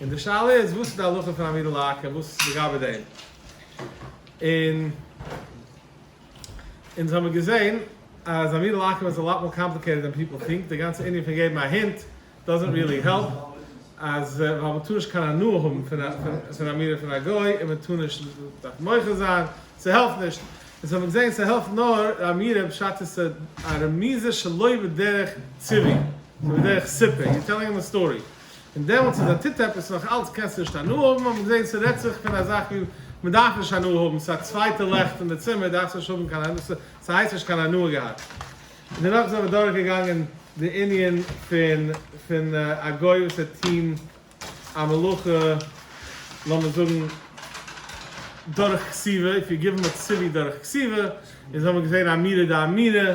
און די שאלה איז וואס איז די הלכה פון א מידל לאקער וואס איז לגבי דעם און אונז האמיר געזעהן אז א מידל לאקער איז אלאט מאר קאמפליקעיטעד דען פיפעל טינק די גאנצע ענין פון געבן א הינט דאזענט ריעלי העלפ אז ווייל מען טאר נישט קיין הנאה האבן פון א פון א מירער פון א גוי און מען טאר נישט דארף מוחה זיין ס'העלפט נישט אונז האמיר געזעהן ס'העלפט נאר א מירער בשעת עס איז א רמיזה שלא בדרך ציווי נאר בדרך סיפור יו טעללינג הים א סטארי. און דעמאלטס איז א טוט עפעס נאך אלץ קענסטו נישט הנאה האבן, האט מען געזען ס'רעדט זיך פון א זאך ווי מען דארף נישט הנאה האבן, ס'איז א צווייטע לעכט אין די צימער דארפסט נישט האבן קיין הנאה, ס'הייסט נישט קיין הנאה געהאט. און דערנאך זענען מיר דורך געגאנגען די ענין פון פון א גוי וואס וועט טון א מלאכה לאמיר זאגן דורך כסיבה, איף יו גיוו הים א ציווי דורך כסיבה, און זענען מיר געזען אמירה דאמירה,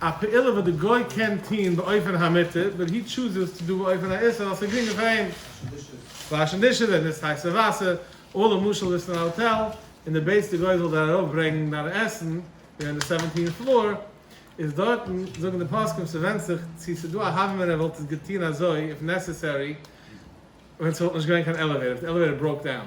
א פעולה וואס די גוי קען טוהן באופן המותר באט הי טשוזעס טו דו באופן האיסור ווייל ס'איז גרינגער פאר אים. וואשן דישעס ווען ס'איז הייסע וואסער. או למשל ביסט אין א האטעל און די בעטס די גוי זאל דיר ארויף ברענגן דיין עסן ווי און די סעווענטין פלאר איז דארטן זאגן די פוסקים ס'ווענדט זיך צו ס'איז דא א הווא מען ער וואלט עס געטוהן אזוי איף נעסעסערי ווען ס'וואלט נישט געווען קיין עלעוועיטער איף די עלעוועיטער בראוק דאון.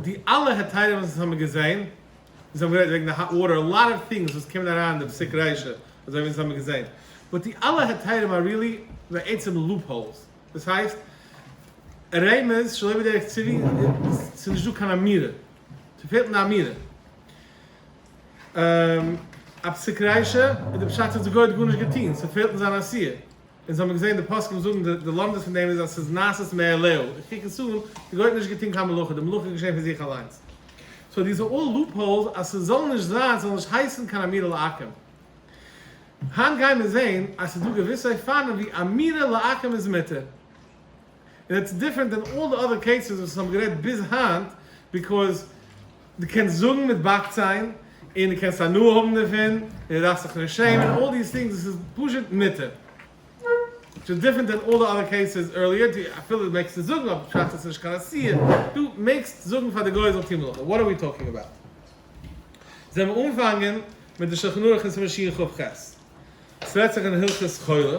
די אלע היתרים וואס אונז האמיר געזעהן, אונז האמיר גערעדט וועגן די האט וואטער, א לאט אוו טינגס וואס קומען אריין אין די פסק ריישא, אזוי ווי אונז האמיר געזעהן, באט די אלע היתרים אר ריעלי בעצם לופ האולס, דאס הייסט, רמז שלא בדרך צבי, ס'איז נישט דא קיין אמירה, ס'פעלט אין די אמירה. א פסק ריישא, איז די פשט אז גוי האט גארנישט געטוהן, ס'פעלט אין זיין עשיה. אונז האמיר געזען די פוסקים זאגן די לומדות פון דעם איז אז ס'איז נעשית מאליהו, איך קוק עס אן, די גוי האט נישט געטון קיין מלאכה, די מלאכה איז געשען פון זיך אליינס. סאו דיז אר אלל לופ האולס אז ס'זאל נישט זיין, ס'זאל נישט הייסן קיין אמירה לעקם. היינט גיימיר זען אז ס'איז דא געוויסע אופנים ווי אמירה לעקם איז מותר. און איטס דיפרענט דען אלל די אדער קעיסעס וואס האבן גערעדט ביז היינט ביקאוז דו קענסט זאגן מיט באק ציין און דו קענסט הנאה האבן דערפון און דו דארפסט זיך נישט שעמען אלל דיס טינגס דאס איז פשוט מותר וויטש איז דיפרענט דען אלל די אדער קעיסעס ערליער דו אפילו מעגסט עס זאגן אבער שייך ס'איז נישט קיין אסור דו מעגסט זאגן פאר די גוי זאל טון מלאכה וואט אר ווי טאלקינג אבאוט זעמיר אנפאנגען מיט די שלחן ערוך אין סימן שיעור ח ח ס'רעדט זיך אין הלכות חולה.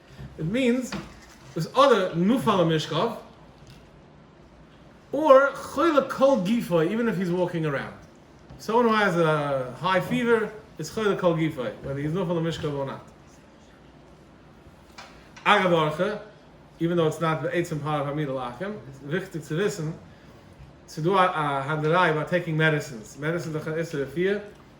איט מיענס איז אדער נפל ממשכב אר חולה כל גופו איווען איף היז וואקינג אראונד סאוען הו העז א היי פיווער איז חולה כל גופו וועדער היז נפל ממשכב אר נאט אגב אר ח איווען דאו איטס נאט בעצם פארט אוו א מידעל אוטקאם איז וויכטיג צו וויסן ס'איז דא א הענדעריי ביי טעקינג מעדעסינס מעדעסינס דורך אן איסור רפואה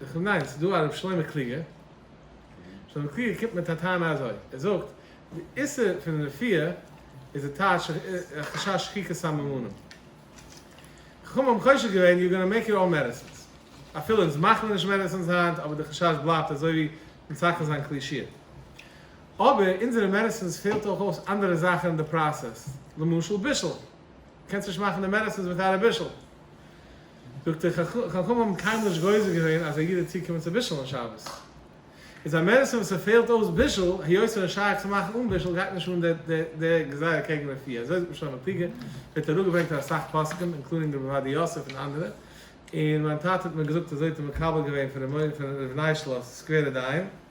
איך מיין ס'איז דא א ר' שלמה קלוגער, שלמה קלוגער קומט מיט א טענה אזוי, ער זאגט די איסור פון רפיע איז די טייטש חשש שחיקת סממנים, חכמים האבן חושש געווען יו גאנא מעיק איט אלל מעדעסינס, אפילו אונז מאכט מען נישט מעדעסינס היינט אבער די חשש בלייבט אזוי ווי אין צייטן זיין כלי שיר, אבער אונזערע מעדעסינס פעלט אויך אויס אנדערע זאכן אין די פראסעס, למשל בישול, קענסט נישט מאכן די מעדעסינס וויטאוט א בישול. זאגט ער, חכמים האבן קיינמאל נישט גוזר געווען אז א איד האט צו קומען צו בישול אום שבת. איז א מעדעסין וואס ס'פעלט אויס בישול, היות ער איז שייך צו מאכן אן בישול גייט נישט אן די גזירה קעגן רפיא. אזוי זאגט משולם הקלוגער, ווערט אראפגעברענגט אין אסאך פוסקים, אינקלודינג רבי עובדיה יוסף און אנדערע. און מיין טאטע האט מיר געזאגט אזוי האט ער מקבל געווען פון ר' ניישלאס סקווערע דיין.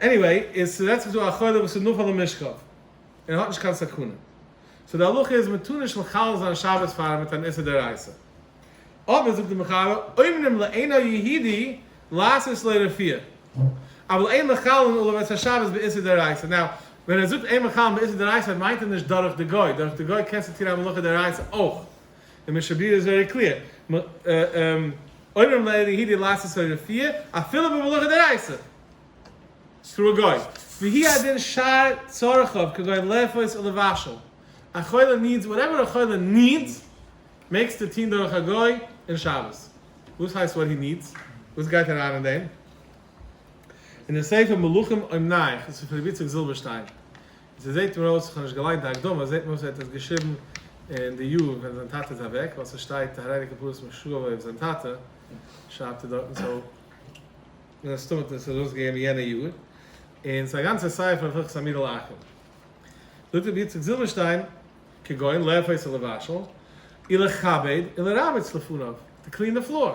עניוועי, איז ס'רעדט זיך דא א חולה וואס איז נפל ממשכב, און ער האט נישט קיין סכנה, סאו די הלכה איז מ'טאר נישט מחלל זיין שבת פאר אים מיט אן איסור דאורייתא. אבער זאגט די מחבר, אומנם לעיני היהידי לעשות סלע רפיאה, אבל אין מחללין עליו את השבת באיסור דאורייתא. נאו, ווען ער זאגט אין מחללין באיסור דאורייתא מיינט ער נישט דורך די גוי, דורך די גוי קענסטו טון א מלאכה דאורייתא אויך. די משנה ברורה איז ווערי קליר, אומרים לאין ליהודי לעשות הוי רפי' אפילו במלאכה דאורייתא, סרא גוי, והי' הדין שאר צרכיו כגון לאפות או לבשל, א חולה נידס וואטעווער א חולה נידס מעגסטו טוהן דורך א גוי אין שבת, וואס הייסט וואט הי נידס? וואס גייט אריין אין דעם? אין די ספר מלכים אומנייך, ס'איז פון רבי איציק זילבערשטיין, ס'זעהט מיר אויס, איך האב נישט געליינט די הקדמה, ס'זעהט מיר אויס ער האט עס געשריבן אין די יאר ווען זיין טאטע איז אוועק, ווייל ס'שטייט הררי כפרות משוגעווער אויף זיין טאטע, שרייבט ער דארטן, סאו מן הסתם האט ער עס ארויסגעגעבן אין יענע יאר, און ס'איז א גאנצע ספר אויף הלכות המילה לאחר. זאגט רבי יצחק זילבערשטיין, כגון לאפות און לבשל, און לכבד און לרבץ לפניו, טו קלין די פלאר.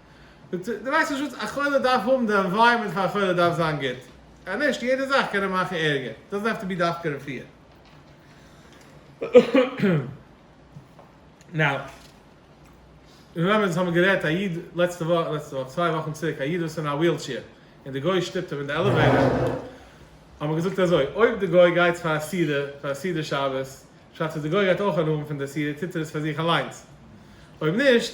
דו ווייסט פשוט א חולה דארף האבן די ענווייראמענט פאר א חולה דארף זיין גוט אז נישט יעדע זאך קען אים מאכן ערגער דאזענט העוו טו בי דווקא רפואה נאו רעמעמבער אונז האבן גערעדט א איד לעצטע וואך לעצטע וואך צוויי וואכן צוריק א איד וואס איז אין א וויל טשעיר און די גוי שטופט אים אין די עלעוועיטער האמער געזאגט אזוי אויב די גוי גייט פאר א סעודה פאר א סעודה שבת שאצט אז די גוי גייט אויך הנאה האבן פון די סעודה טוט ער עס פאר זיך אליינס אויב נישט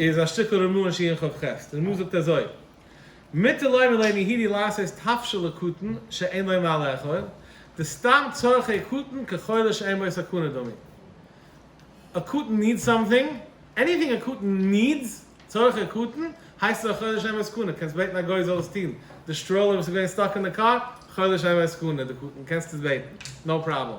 איז א שטיקל רמא אין שיעור חב ח, די רמא זאגט אזוי, מותר לומר לעני הידי לעשות טפשות לקטן שאין לו מה לאכול, די סתם צרכי קטן כחולה שאין בו סכנה דמי. א קטן נידס סאמטינג, עניטינג א קטן נידס, צרכי קטן, הייסט עס א חולה שאין בו סכנה, קענסט בעטן א גוי זאל עס טון, די סטראולער וואס איז געווען סטאק אין די קאר, חולה שאין בו סכנה, די קטן, קענסט עס בעטן, נאו פראבלעם.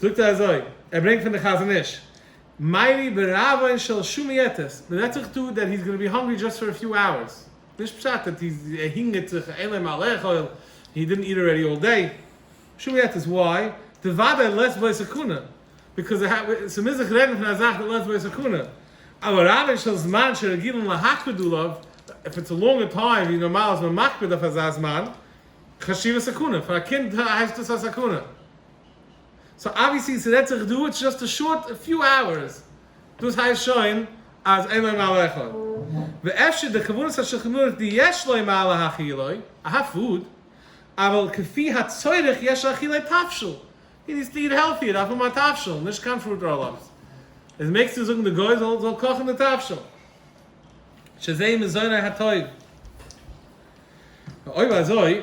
זאגט ער אזוי, ער ברענגט פון די חזון איש, מאירי ברעווען של שומי יתוס, מען רעדט זיך דא דעט היז גאנא בי האנגרי דזשאסט פאר א פיו אווערס, נישט פשט דעט היז ער הינגערט זיך אין להם א לאכול, הי דידנט איט אלרעדי אלל דעי, שומי יתוס, וואי? די וודאי לעצט בעת סכנה, ביקאוז ס'מוז זיך רעדן פון א זאך די לעצט בעת סכנה, אבער רעווען של זמן שרגילים להקפיד עליו, פאר צו לאנגע טיים ווי נארמאל איז מען מקפיד אויף אזא זמן, חשיבה סכנה, פאר א קינד הייסט דאס א סכנה. סאו אבוויעסלי ס'רעדט זיך דא איטס זשאסט א שארט פיו האוערס, דאס הייסט שוין אז אין להם מעלה אחד, ואפשר די כוונת השולחן ערוך די יש להם מעלה האכילה, אהא פוד, אבל כפי הצורך יש אכילה תבשיל, הי נידס טו איט העלטי, ער דארף האבן א תבשיל, נישט קיין פרוט ראלאפס, איז מעגסטו זאגן די גוי זאל זאל קאכן די תבשיל, שזה מזונו הטוב, אויב אזוי.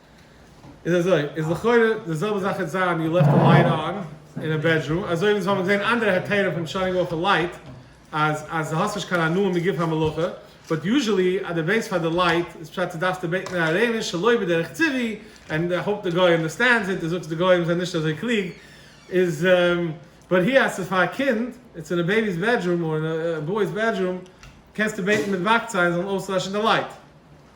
איז אזוי, איז לכאורה די זעלבע זאך וועט זיין יו לעפט די לייט אן אין א בעדרום, אזוי ווי אונז האבן געזען אנדערע היתרים פון טשארנינג אויף א לייט, אז אז די האסט נישט קיין הנאה מגוף המלאכה, באט יוזשעלי אז די בעטסט פאר די לייט איז פשט אז דארפסטו בעטן אין א רענען שלא בדרך טבעי, ענד איי האופ די גוי אנדערסטענדס איט, די זאגסט די גוים זענען נישט אזוי קלוג, איז באט היער אז ס'איז פאר א קינד, און ס'איז אין א בעיבי'ס בעדרום, אר אין א בוי'ס בעדרום, קענסטו בעטן מיט וואקציין זאלן אויסלעשן די לייט.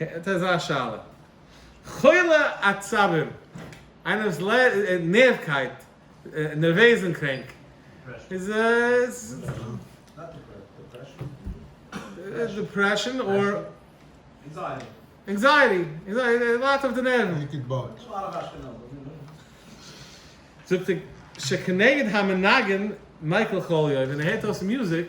האט ער אזא שאלה. חולי עצבים, איינער וואס ליידט נערווקייט, נערוועזן קרענק, איז דעפרעשאן אדער ענקזייעטי, ער ליידט אויף די נערוון. זאגט ער שכנגד המנגן מייקל חוליו, ווען ער הערט אויס מיוזיק.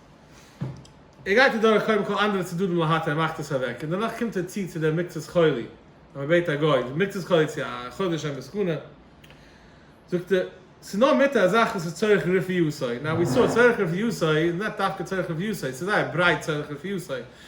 ער גייט אדורך קודם כל אנדערע צדדים להט ער מאכט עס אוועק און דערנאך קומט ער צו צו דער מקצת חולי אז מ'בעט א גוי די מקצת חולי צו א חולה שוין בסכנה זאגט ער ס'איז נאר מיתה א זאך וואס איז צורך רפואי נאו ווי סאו צורך רפואי איז נישט דווקא צורך רפואי ס'איז זייער ברייט צורך רפואי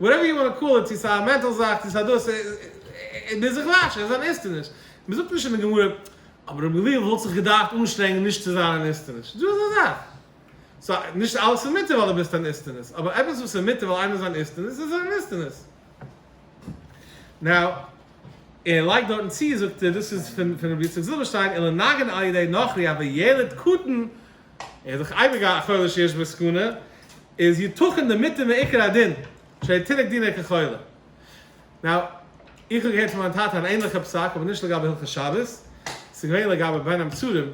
וואטעווער יו וואנט טו קאל איט, צו ס'איז א מענטל זאך צו ס'איז א דאס, ביז איך וואטש איז אן איסטעניש, מען זאגט נישט אין די גמרא, אבער רבי גליון וואלט זיך געדארפט אנשטרענגן נישט צו זיין אן איסטעניש, דא איז א זאך, סא נישט אלעס איז מותר ווייל דו ביסט אן איסטעניש, אבער עפעס וואס איז מותר ווייל איינער איז אן איסטעניש איז ער אן איסטעניש. נאו, ער לייגט דארטן צו, זאגט ער, דאס איז פון רבי יצחק זילבערשטיין, אלא נגן על ידי נוכרי, אבער ילד קטן ער איז דאך אייביג א חולה שיש בו סכנה, איז יתכן די מיתה מעיקר הדין, שהרי תינוק דינא כחולה. נאו, איך האב געהערט פון מיין טאטע אן ענליכע פסק, אבער נישט לגבי הלכות שבת, ס'איז געווען לגבי בין המצרים,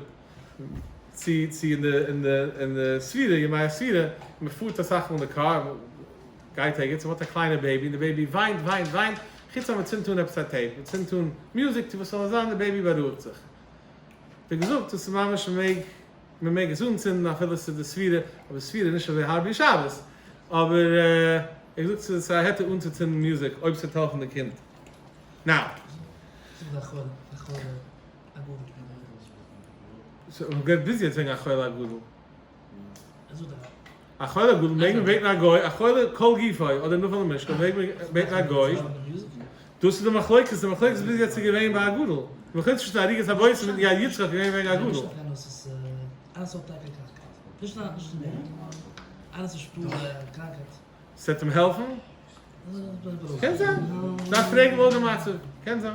צו צו אין די אין די אין די ספירה, ימי הספירה, מען פארט אסאך מאל אין די קאר, גייט ערגעץ, און מען האט א קליינע בעיבי, און די בעיבי וויינט וויינט וויינט, חוץ אז מען צינדט אן עפעס א טעיפ, מען צינדט אן מוזיק צו וואס ס'זאל זיין, די בעיבי בארואיגט זיך. ווי געזאגט דאס איז ממש מעג מען מעג עס אנצינדן אפילו ס'איז די ספירה אבער ספירה איז נישט אזוי הארב ווי שבת אבער ווי געזאגט ס'איז א היתר אנצוצינדן מוזיק אויב ס'וועט העלפן די קינד נאו. ביז יעצט וועגן א חולה א גדול. א חולה גדול מעגן בעטן א גוי, א חולה כל גופו אדער נפל למשכב מעג מען בעטן א גוי, דאס איז די מחלוקת, די מחלוקת איז ביז יעצט איז געווען ביי א גדול, מלכתחילה צווישן די עריגת הבושם און יד יצחק איז געווען וועגן א גדול. ס'עט אים העלפן? קען זיין, דארף פרעגן לאור די מצב, קען זיין.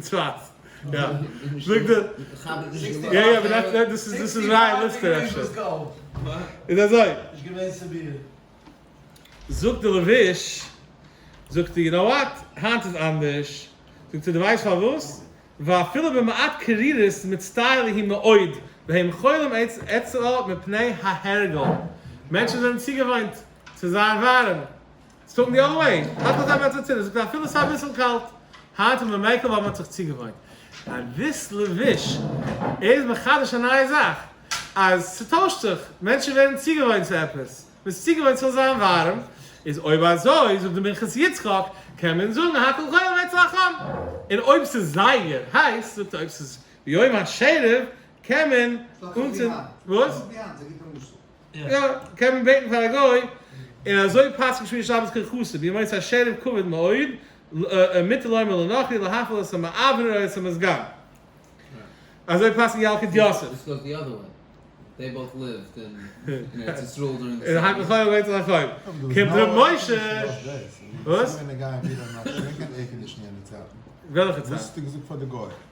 צפת. יא. זאגט ער. יא יא באט דעט דאס איז דאס איז רייע ליסטער אפשר. איז אזוי. זאגט די לבוש. זאגט ער יו נאו וואט. היינט איז אנדערש. זאגט ער די ווייסט פארוואס? ווייל אפילו במעט קרירות מצטער ליהי מאוד והם חולים עצרה מפני ההרגל. מענטשן זענען צוגעוואוינט צו זיין ווארעם. זאגן די אויל איין האט אזוי וועט זיך צוריק זאגט אפילו סאיז אביסל קאלט היינט און במילקא ווייל מען האט זיך צוגעוואוינט אביסל וויש איז מחדש א נייע זאך אז ס'טוישט זיך מענטשן ווערן צוגעוואוינט צו עפעס מען איז צוגעוואוינט ס'זאל זיין ווארעם איז אויב אזוי זאגט די מנחת יצחק קען מען זאגן הכל כולל וועט זיך חם און אויב ס'איז זייער הייס זאגט ער אויב ס'איז ביום השערב קען מען אנצינדן וואס? יא, קען מען בעטן פאר א גוי, און אזוי פסק'ן שמירת שבת קיין חסד, ווי מועצת השערים כבד מאוד, מותר לומר לנכרי להפעיל את המעבר או את המזגן. אזוי פסק'ן די אלקוט יוסף. קומט ר' משה, וואס? וועלכע צד?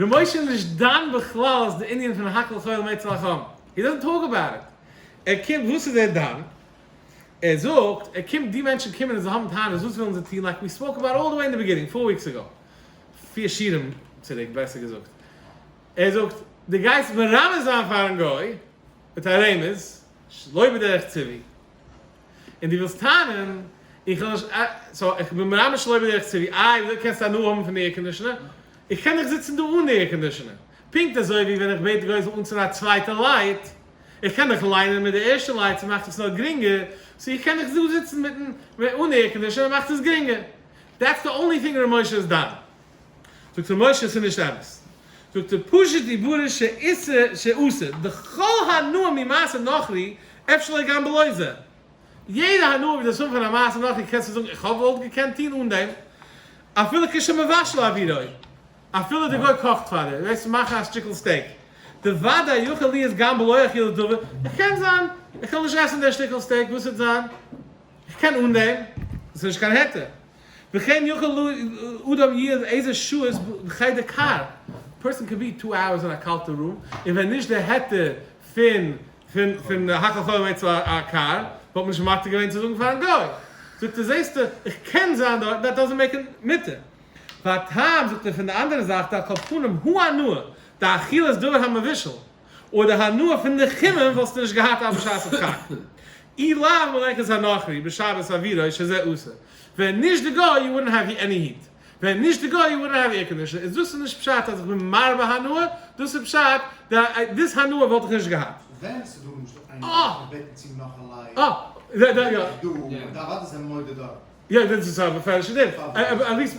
ר' משה איז נישט דן בכלל אז די ענין פון האקל חול מעץ על החם, הי דאזענט טאלק אבאוט איט, ער קומט וואס איז ער דן, ער זאגט ער קומט די מענטשן קומען און זיי האבן טענות וואס ווילן זיי טון לייק ווי ספאוק אבאוט אלל די וועי אין די ביגינינג פאר וויקס אגאו, פיר שיעורים צוריק בעסער געזאגט, ער זאגט די גייסט מרמז זיין פארן גוי מיט א רמז שלא בדרך צבי. און דו ווילסט טענה'ן, איך האב נישט אה, סאו איך בין ממש שלא בדרך צרי, איי דו קענסט הנאה האבן פון די עירקאנדישאנער? איך קען דאך זיצן דא אן עירקאנדישאנער, פונקט אזוי ווי ווען איך בעט גרויזל אנצינדן א צווייטע לייט, איך קען דאך ליינען מיט די ערשטע לייט, ס'מאכט עס נאר גרינגער, סאו איך קען דאך דא זיצן מיטן אן עירקאנדישאנער, מאכט עס גרינגער. דעטס די אנלי טינג ר' משה איז דן. זאגט ר' משה עס איז נישט אמת, זאגט ער פשוט דיבורו שאיסר שאסור דכל הנאה ממעשה נוכרי אפשר לא גם בלא זה, יעדע הנאה וואס דארפסט האבן פון א מעשה נוכרי קענסטו זאגן איך האב וואלט געקענט טון אן דעם אפילו כשמבשל אווירוי אפילו די גוי קאכט פאר דיר וועסט מאכן א שטיקל סטעיק די ודאי יכול להיות גם בלא אכילה טובה איך קען זיין איך וויל נישט עסן דער שטיקל סטעיק וואס וועט זיין איך קען אן דעם דאס איז נישט קיין היתר. וכן יכול לו אדם יהיה אין איזה שעות בחדר קר, פערסאן קען בי טו אווערס אין א קאלטע רום, און ווען נישט די היתר פון פון האקעל חומר אצל א קר, וואלט מען נישט מתיר געווען צו זאגן פארן גוי. זאגט ער זעסטו, איך קען זיין דארט, דעט דאזענט מעיק איט מותר. והטעם, זאגט ער, פון די אנדערע זייט, על כל פנים, הוא הנאה, די אכילה איז דבר המבושל. אויב די הנאה פון די חימום וואלסטו נישט געהאט אז בשעת הדחק אי ל מלאכת הנכרי בשבת עבירה שזה אסור, ווען נישט די גוי יו וואודנט העוו עני היט, ווען נישט די גוי יו וואודנט העוו עירקאנדישאן, איז דאס איז נישט פשט אז איך בין מרבה הנאה, דאס איז פשט די דיס הנאה וואלט איך נישט געהאט. ווען ס'איז דא למשל איינער וואס האט געבעטן צו נאך א לייק, אויב איז ער דא, וועט אוודאי זיין מודה דארט. יא דאס איז א מפורש'ע דין, אליס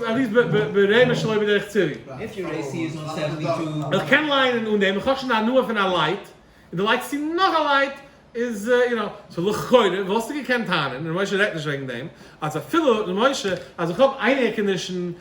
ברעמער שלא בדרך צירי. איך קען לייענען אן דעם, איך האב שוין הנאה פון א לייט, און דו לייגסט צו נאך א לייט, איז יו נאו, סאו לכאורה וואלסטו געקענט טענה'ן, ר' משה רעדט נישט וועגן דעם, אז אפילו ר' משה, אז איך האב איין עירקאנדישן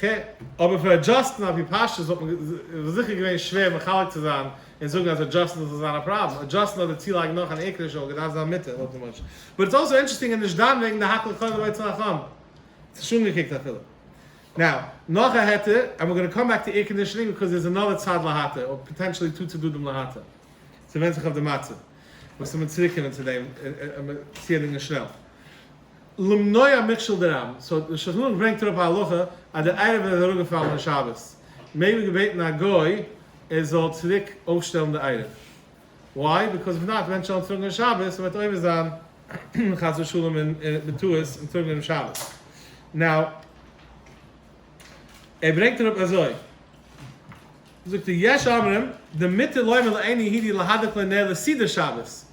ח. אבער פאר עדזשאסטן אפי' פשטות וואלט מען זיכער געווען שווער מחלק צו זיין און זאגן אז עדזשאסטן זאל זיין א פראבלעם. עדזשאסטן אדער צולייגן נאך אן עיקר'ישע אור געדארפט זיין מיטער לויט די מש ו. איטס אלסאו אינטערעסטינג און נישט דן וועגן די האקעלע חובה אצל א חמ צ נישט אנגעקוקט אפילו. נאו. נאך א היתר, אענד ווער גאנא קאם בעק טו עירקאנדישאנינג ביקאוז דערס אנאדער צד להיתר אור פאטענטשעלי טו צדדים להיתר. ס'ווענד זיך אויף די מצב. וואס איז מיט צוריקקומען צו דעם צעהדינגען שנעל. למנוע מכשול דרם, סאו די שולחן ערוך ברענגט אראפ א הלכה אז דער עירוב איז אראפגעפאלן און שבת מעג מען געבעטן א גוי ער זאל צוריק אויפשטעלן די עירוב, וויי? ביקאוז איף נאט מענטשן וועלן טראגן און שבת און מ'וועט עובר זיין חס ושלום און בטעות און טראגן אום שבת, נאו ער ברענגט אראפ אזוי זאגט ער יש אומרים דמיתר לומר לעיני הידי להדליק לו נר לסידור שבת.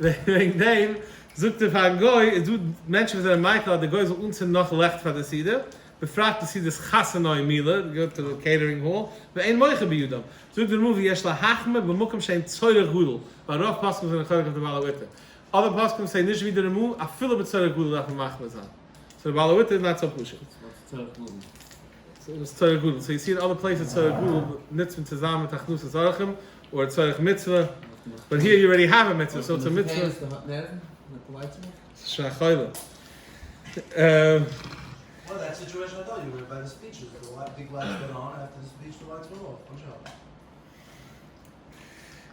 וועגן דעם זאגט ער פארן גוי איז דא מענטשן וואס זענען מייקל אז די גוי זאל אנצינדן נאך לעכט פאר די סעודה, בפרט די סעודת חתונה און מילה, די גוטע קעיטערינג האל, ואין מוחא בידם, זאגט דער רמב ם יש להחמיר במקום שאין צורך גדול, ווייל רוב פוסקים זענען חולק אויף די בעל הביתר, אדער פוסקים ס'איז נישט ווי די רמ א אפילו בצורך גדול דארף מען מחמיר זיין, סאו די בעל הביתר איז נאט סאו פשוט. וואס איז צורך גדול? סאיז צורך גדול, סאיז סיר אלע פלעיסעס צורך גדול, נוצט מען צוזאם מיט הכנסת אורחים, אדער צורך מצוה, באט היער יו רעדי העוו א מצוה סאו צו מצוה. שכח חולה.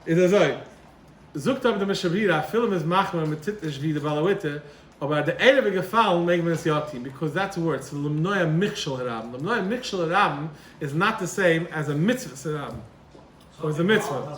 איז אזוי, זאגט אבער דער משב ר אפילו מ'איז מחמיר מען טוט נישט ווי די בעל הבית'טע, אבער אז די ערב איז געפאלן מעג מען עס יא טון, ביקאוז דעטס ווארטס פון למנוע מכשול הרבים, למנוע מכשול הרבים איז נאט די סעים עז א מצוות הרבים, אויב איז די מצוה.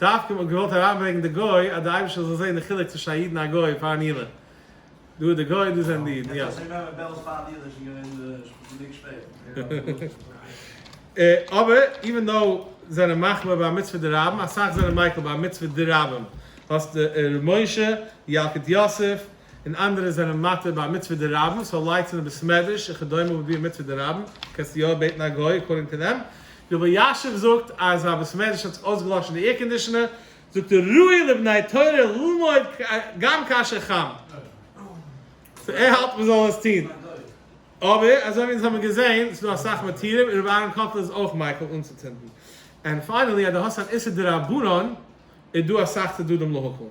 דווקא מ'האט געוואלט אריינברענגן די גוי אז די אייבישטער זאל זעהן די חילוק צווישן א איד און א גוי פאר נילא. דא איז די גוי און דא זענען די אידן. יא. אבער איווען דאו זענען מחמיר ביי מצוה דרבים, אסאך זענען מיקל ביי מצוה דרבים. האסט ר' משה, ילקוט יוסף, און אנדערע זענען מתיר ביי א מצוה דרבן, סאו לייטס אין די בית מדרש וכדומה וואלט געווען מצוה דרבן, קענסט יא בעטן א גוי אקארדינג טו דעם, ווי רבי אלישיב זאגט אז א בית מדרש האט זיך אויסגעלאשן די עירקאנדישאנער, זאגט ער ראוי לבני תורה ללמוד גם כאשר חם, סאו ער האלט מען זאל עס טון, אבער אזוי ווי אונז האבן געזען איז דא אסאך מתירים און רבי אהרן קאטלער איז אויך מיקל אנצוצינדן, און פיינעלי אז דו האסט אן איסור דרבנן, איז דא אסאך צדדים להכל.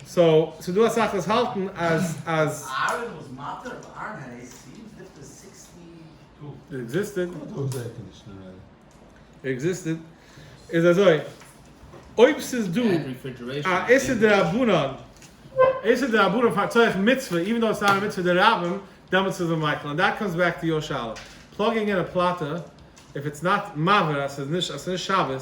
סאו ס'איז דא אסאך וואס האלטן אז אז. אהרן וואס מאטער אוו אהרן העי איז סיעמס דיפטער סיקסטי טו. איט עקזיסטעד. גוט אויס די ערקאנדישאן אווער. איט עקזיסטעד. איז אזוי. אויב ס'איז דא א איסור דרבנן איסור דרבנן פאר צורך מצוה איווען דאו עס איז א מצוה דרבים דעמאלטס איז מען מקיל ענד דעט קאמס בעק טו יור שאלה פלאגינג אין א פלאטע איף איטס נאט מבער אז ס'איז נישט אז ס'איז נישט שבת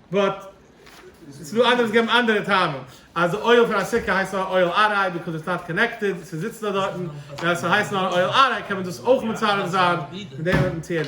באט ס'איז דא אנדערע וואס געבן אנדערע טעמים אז די אויל פון א סוכה הייסט נאר אויל אריי ביקאוז איטס נאט קאנעקטעד ס'זיצט נאר דארטן און אז ס'הייסט נאר אויל אריי קען מען דאס אויך מצרף זיין מיט דעם אויפן ציון.